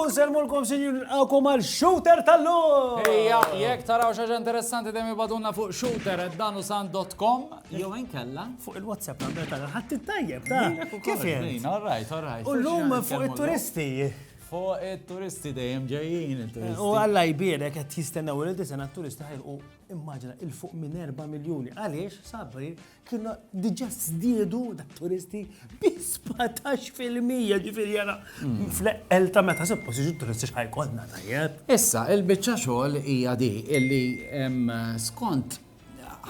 Unselmulkom sinjur nilqakom għal shooter tal-lum! Ejja, jekk taraw xaġa interessanti dejjem ibadunna fuq shooter at danusan.com jew inkella. Fuq il-WhatsApp number tal-ħadd tajjeb ta' kif jien. All right, all right. U l-lum fuq it-turisti. Fuq it-turisti dejjem ġejjin il-turisti. U għalla jbierek qed jistennew li disena t-turisti ħajlqu immaġina il fuq minn 4 miljuni. Għaliex sabri kienu diġà żdiedu dak turisti bi 17 fil-mija ġifieri jara hmm. fl-eqqel ta' meta suppost jiġu turisti x'ħajkollna tajjeb. Issa, il-biċċa xogħol hija di illi skont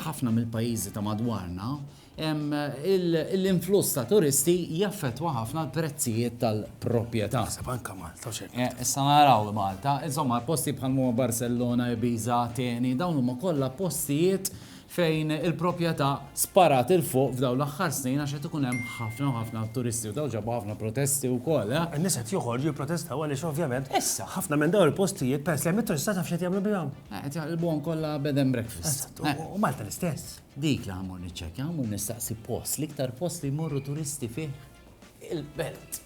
ħafna mill-pajjiżi ta' madwarna, l-influss ta' turisti jaffettwa ħafna l-prezzijiet tal-proprjetà. Naħseb anke Malta u x'hekk. Eh, issa naraw Malta, insomma posti bħal huma Barcellona, Ibiza, Ateni, dawn huma kollha postijiet fejn il-proprjetà sparat 'il fuq f'dawn l-aħħar snin għax qed ikun hemm ħafna u ħafna turisti u dawn ġabu ħafna protesti wkoll, eh. In-nies qed joħorġu jipprotestaw għaliex ovvjament issa ħafna minn dawn il-postijiet peress li hemm it-turista taf x'qed jagħmlu bihom? Qed jaqilbuhom kollha bed and breakfast. U Malta l-istess. Dik li ħammur niċċekkja, ħammur nistaqsi post, l-iktar post li jmorru turisti fih il-belt.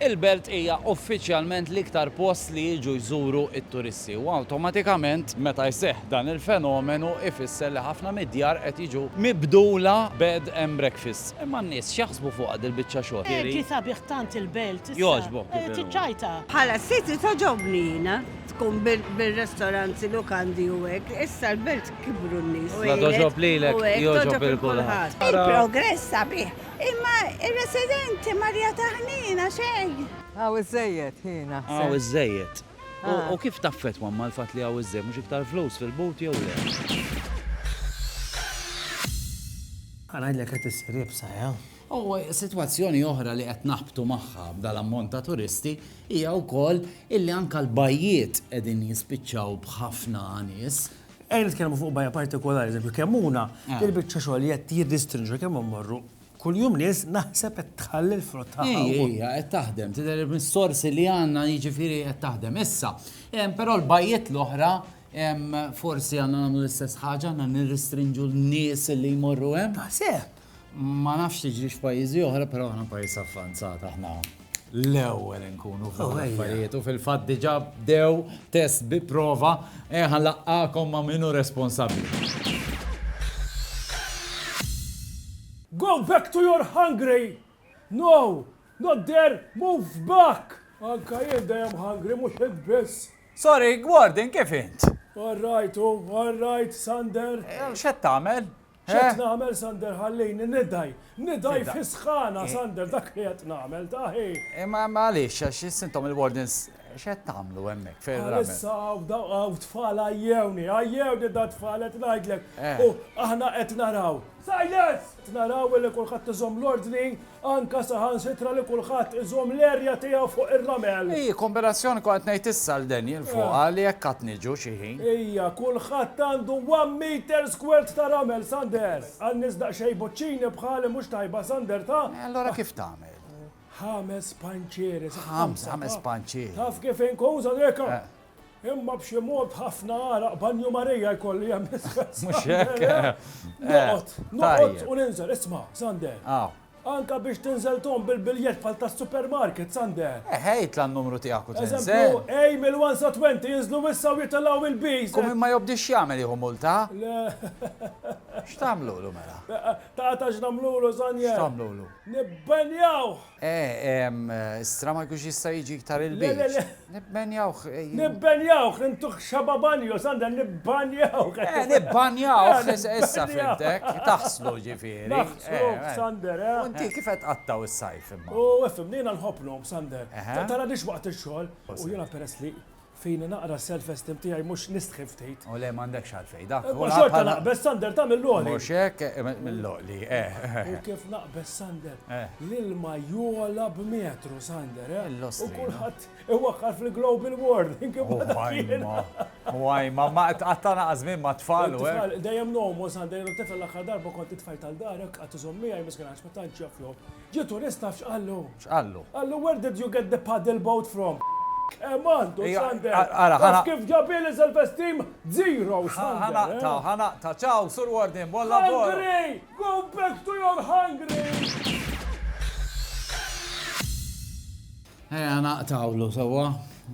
Il-belt hija uffiċjalment l-iktar post li jiġu jżuru t-turisti u awtomatikament meta jseħħ dan il-fenomenu ifisser li ħafna mid-djar qed jiġu mibdula bed and breakfast. Imma n-nies x'jaħsbu fuqha dil-biċċa xogħol? Hi sabiħ tant il-belt. Jogħġbok. Eh, tiċċajta. Bħala siti toġobni jiena tkun bil-restoranti lukandi u hekk, issa l-belt kibru n-nies. Ma toġob lilek, joġob il-kulħadd. Il-progress sabiħ, imma ir-residenti Marja Taħnina xejn. Għaw iż-żejjed jiena. Għaw iż-żejjed. Ah. U kif taffet mamma l-fatt li għaw iż-żejjed mhux iktar flus fil-but jew le? Għanajdlek qed issir ibsa, ja? U sitwazzjoni oħra li qed naħbtu magħha b'dal-ammont ta' turisti hija wkoll illi anke l-bajjiet qegħdin jispiċċaw b'ħafna nies. Ejja nitkellmu fuq bajja partikolari, eżempju Kemmuna, il-biċċa xogħol li qed jiddistinġwa kemm immorru kuljum nies naħseb qed tħalli l-frott tagħha wkoll. Hi, hija qed taħdem, tidher mis-sorsi li għandna jiġifieri qed taħdem. Issa, però l-bajjiet l-oħra forsi għandna nagħmlu l-istess ħaġa, għandna nirristrinġu n-nies li jmorru hemm? Taħseb! Ma nafx tiġri f'pajjiżi oħra, però aħna pajjiż avvanzat aħna l-ewwel inkunu fuq oh, affarijiet u fil-fatt diġà bdew test bi prova eh, ħanlaqqakom ma' minnu responsabbli. Go back to your hungry! No, not there, move back! Anka jien dejjem hungry mhux id biss. Sorry, Gordon, kif int? All right, oh, all right, Sander. Eh, x'qed tagħmel? X'qed nagħmel Sander ħallini nidgħi, nidgħi fis-sħana Sander dak li qed nagħmel ta' ħi. Imma għaliex għax issa intom il-wardens x'qed tagħmlu hemmhekk fejn il-ramen? Issa hawn tfal għajjewni, għajjewni da tfal qed ngħidlek u aħna qed naraw. Silence! Qed naraw li kulħadd iżomm l-ordni Anka saħansitra li kulħadd iżomm l-erja tiegħu fuq ir-ramel. Hi kombinazzjoni kont qed ngħid issa l Daniel fuqha li hekk għad niġu xi ħin. Hija, kulħadd għandu one meter squared ta' ramel, Sander! Għal nies daqsxejn buċċini bħali mhux tajba, Sander, ta? E allura kif tagħmel? Ħames panċieri, sa ħamsa, ta? Ħames panċieri. Taf kif inkun, Sander, hekk hawn. Imma b'xi mod ħafna għaraq banju Marija jkolli għamilt. Mhux hekk. Noqgħod, noqgħod u ninżel, isma', Sander. Anka biex tinżel Tom bil-biljett bħal tas-supermarket, Sander. Eħe, jitla' n-numru tiegħek u tinżel. Eżempju, A mill-1 sa 20 jinżlu issa u jitilgħu mill-Bs. Kum min ma jobdix jagħmel jieħu multa? Le. X'tagħmlulu mela? Tara ta' x'nagħmlulu, Sander. X'tagħmlulu? Nibbenjawh! Istra ma jkunx jista' jiġi iktar il-beach. Nibbenjawh. Nibbenjawh, intuh xaba' banjo, Sander, nibbanjawh. Eh, nibbanjawh, issa fhimtek, taħslu ġifieri. Naħsluh, Sander, eh. U inti kif qed tqattgħu s-sajf imma? U ifhimni, jiena nħobb ngħum, Sander. Tara dixx waqt ix-xogħol, u jiena peress li Fini naqra self esteem tiegħi mhux nistħi ftit. O le m'għandekx għalfejn dak. Imma xorta naqbeż Sander ta' mill-għoli. Mhux hekk mill-għoli eh. U kif naqbeż Sander. L-ilma jogħla b'metru Sander eh. U kulħadd iwaqqar fil-global warming imma dak jien. Waj ma ma qatta naqa' żmien ma' tfal u hekk. Dejjem ngħomu Sander, tifel l-aħħar darba kont it-tfajl tal-darek qatt iżomm miegħi miskin għax ma tantx jaf jgħum. Ġie turist taf x'qallu? X'qallu? Qallu where did you get the paddle boat from? Kemm għandu Sander? Taf kif ġabha li self-esteem zero Sander. Ħa naqta', ħa naqta'. Ciao Sur Warden, buon lavoro. Hungry! Go back to your hungry! Ejja naqtgħulu sewwa,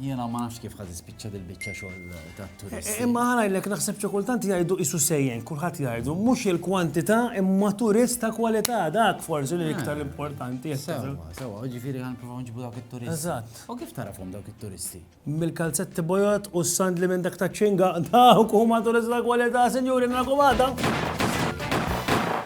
jiena ma nafx kif ħa tispiċċa dil-biċċa xogħol tat-turisti. Imma ħa ngħidlek naħseb xi kultant jgħidu qisu sejjen, kulħadd jgħidu, mhux il-kwantità imma turist ta' kwalità, dak forsi li iktar importanti. Sewwa, sewwa, jiġifieri ħa nippruvaw nġibu dawk it-turisti. Eżatt. U kif tagħrafhom dawk it-turisti? Mill-kalzetti bojod u s-sandli minn dak taċ-Ċinga, dawk huma turisti ta' kwalità, sinjuri, narakom għada!